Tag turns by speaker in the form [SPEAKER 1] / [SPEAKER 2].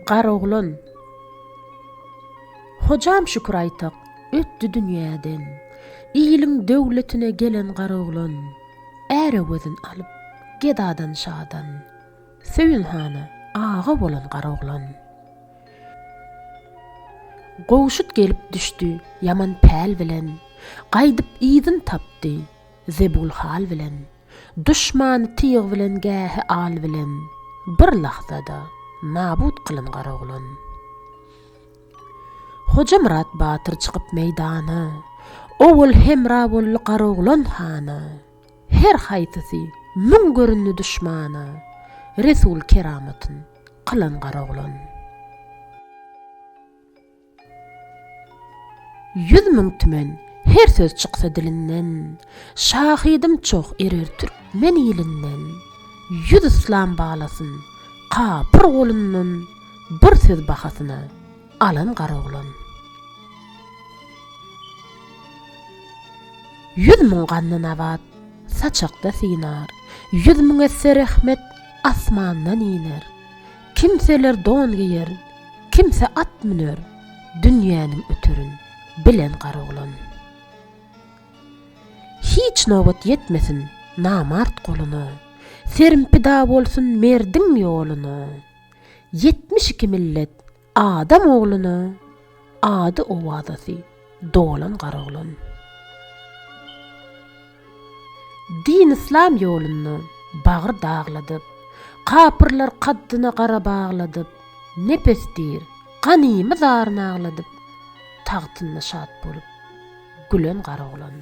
[SPEAKER 1] Garoglan. Hojam Şükür Aýtak ötdi dünýäden. Iliň döwletine gelen Garoglan. Ärewezin alyp, gedadan şadan. Söýün hana aga bolan Garoglan. Gowşut gelip düşdi ýaman päl bilen. Gaýdyp yzyn tapdy. Zebul hal bilen, duşmany tyg bilen gähi al bilen, bir lahzada nabut kylyn Garagulyn. Hojamyrat batyr çykyp meýdana, owal hemra boldy Garagulyn hana, her haýsysy müň göründi duşmana, resul keramatyn kylyn Garagulyn. Ýüz müň tümen, her söz çyksa dilinden, Şahydym çoh erer türkmen ilinden. Ýüz yslam balasyn, kapyr golundan, Bir söz bahasyna, alan garoglan. Ýüz müň ganly nabat, saçakda synar, Ýüz müň esse rehmet, asmandan iner. Kimseler don geýer, kimse at müner, dünýäniň öterin, bilen gar oglan. Hiç nobat ýetmesin namart goluna, serim pida bolsun merdiň ýoluna, ýetmiş iki millet adam ogluna. Ady owazasy dolan garoglan. Din-yslam ýolunda bagry dagladyp, Kapyrlar kaddyna gara bagladyp, Nepes diýr, ganymy zaryn agladyp, Tagtynda şat bolup, gülen garoglan.